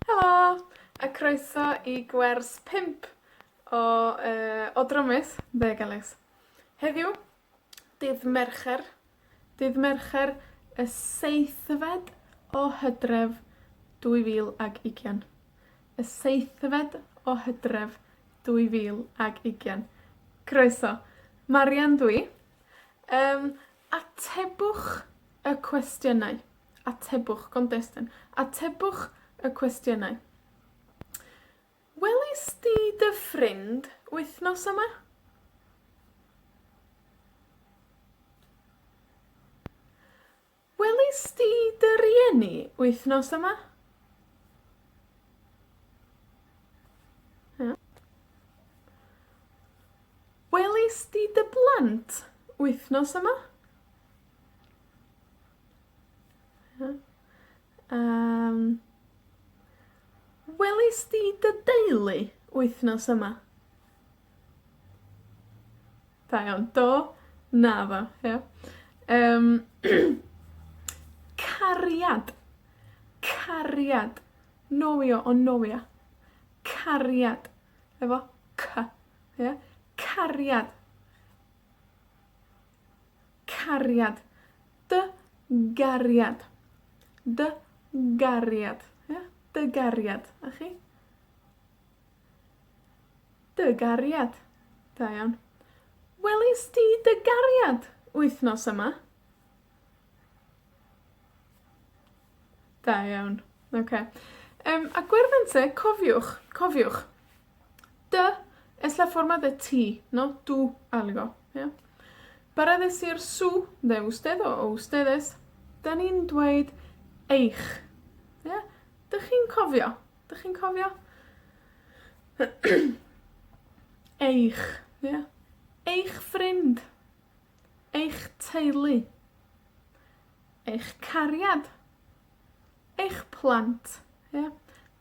Helo! A croeso i gwers pump o yy o drymus Deg Elliws. Heddiw, dydd Mercher, dydd Mercher y seithfed o Hydref, dwy fil ag ugian. Y seithfed o Hydref, dwy fil ag ugian. Croeso. Marian dw i. Yym, Atebwch y cwestiynau. Atebwch, Contestant. Atebwch y cwestiynau. Welis di dy ffrind wythnos yma? Welis di dy rieni wythnos yma? Ia. Welis di dy blant wythnos yma? Ia? Yym. Welis di dy deulu wythnos yma? Da iawn. Do. Naddo. Ia? Yym. Cariad. Cariad. Nofio, o nofio. Cariad, efo cy. Ie? Cariad. Cariad. Dy gariad. Dy gariad. Ia? Dy gariad. A chi? Dy gariad. Da iawn. Welis di dy gariad wythnos yma? Da iawn. Oce. Yym, a gwyrddonte, cofiwch, cofiwch, Dy es la forma de ti, no tu algo, ia? Para decir su de usted o ustedes 'dan ni'n dweud eich, ia? 'Dych chi'n cofio? 'Dych chi'n cofio? Eich, ia? Eich ffrind. Eich teulu. Eich cariad. Eich plant, ia?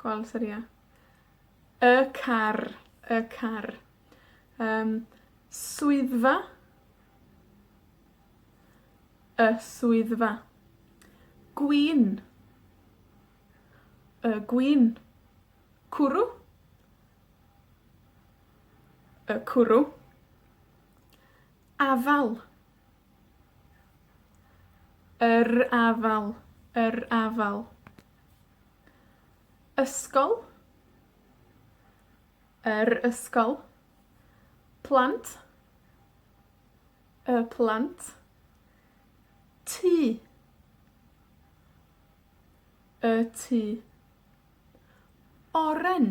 Gweld os ydi e? Y car, y car. Yym, swyddfa. Y swyddfa. Gwin. Y gwin. Cwrw. Y cwrw. Afal. Yr afal, yr afal. Ysgol. Yr ysgol. Plant. Y plant. Tŷ. Y tŷ. Oren.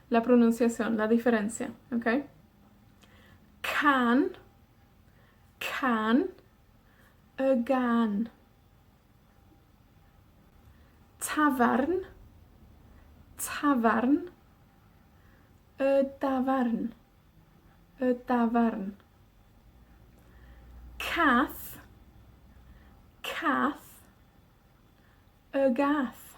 La pronunciación, la diferencia, oce? Can, can, y gân. Tafarn, tafarn, y dafarn, y dafarn. Cath, cath, y gath,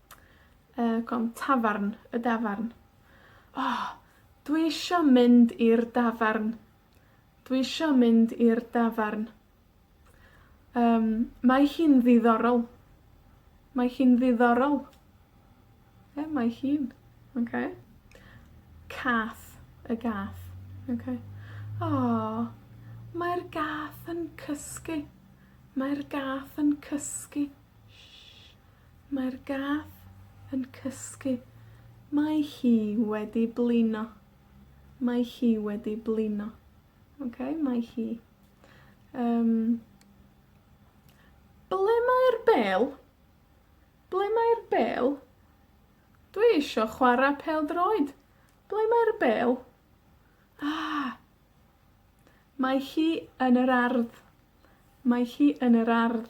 Yy, cofn tafarn, y dafarn. O! Dwi isio mynd i'r dafarn. Dwi isio mynd i'r dafarn. Yym, mae hi'n ddiddorol. Mae hi'n ddiddorol. Ie, mae hi'n. Oce? Cath, y gath. Oce? O! Mae'r gath yn cysgu. Mae'r gath yn cysgu. Mae'r gath yn cysgu. Mae hi wedi blino. Mae hi wedi blino. Oce? Mae hi. Yym. Ble mae'r bêl? Ble mae'r bêl? Dwi isio chwara pêl-droed. Ble mae'r bêl? Ah! Mae hi yn yr ardd. Mae hi yn yr ardd.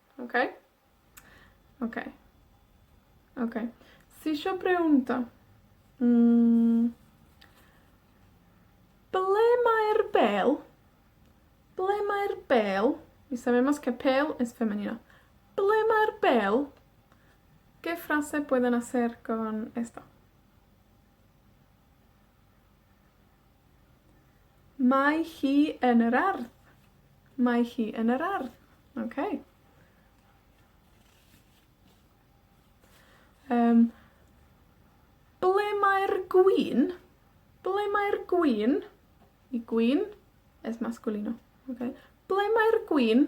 Oce? Oce. Oce. Ti isho byw yndo? Hmm. Ble mae'r bêl? Ble mae'r bêl? Ble mae'r bêl? ¿Qué frase pueden hacer con esto? Mae hi yn yr ardd. Mae hi yn yr ardd. Oce. Yym, ble mae'r gwin? Ble mae'r gwin? Y gwin es masculino oce? Ble mae'r gwin?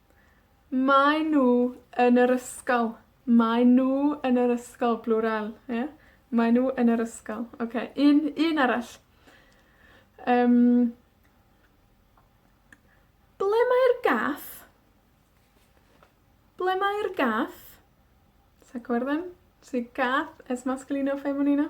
Maen nhw yn yr ysgol. Maen nhw yn yr ysgol. Plural, ia? Maen nhw yn yr ysgol. Oce, un, un arall. Yym. Ble mae'r gath? Ble mae'r gath? Does 'na cŵr ddim? Does 'na gath ers masculino feminino?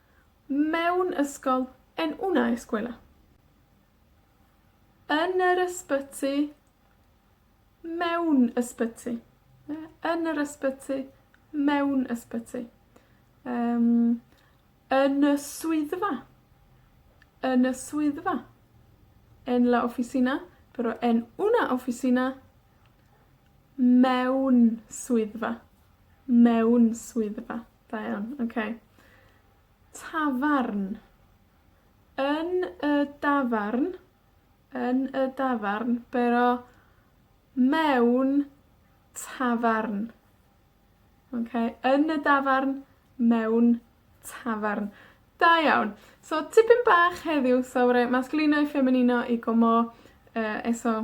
Mewn ysgol, en una escuela. Yn yr ysbyty. Mewn ysbyty. Ie? Yn yr ysbyty. Mewn ysbyty. Yym, yn y swyddfa. Yn y swyddfa. En la oficina, pero en una oficina. Mewn swyddfa. Mewn swyddfa. Da iawn, oce. Tafarn. Yn y dafarn, yn y dafarn, bero, mewn tafarn. Oce? Yn y dafarn, mewn tafarn. Da iawn. So, tipyn bach heddiw, so ma' raid, masclino i ffemininno i gomô, yy, eso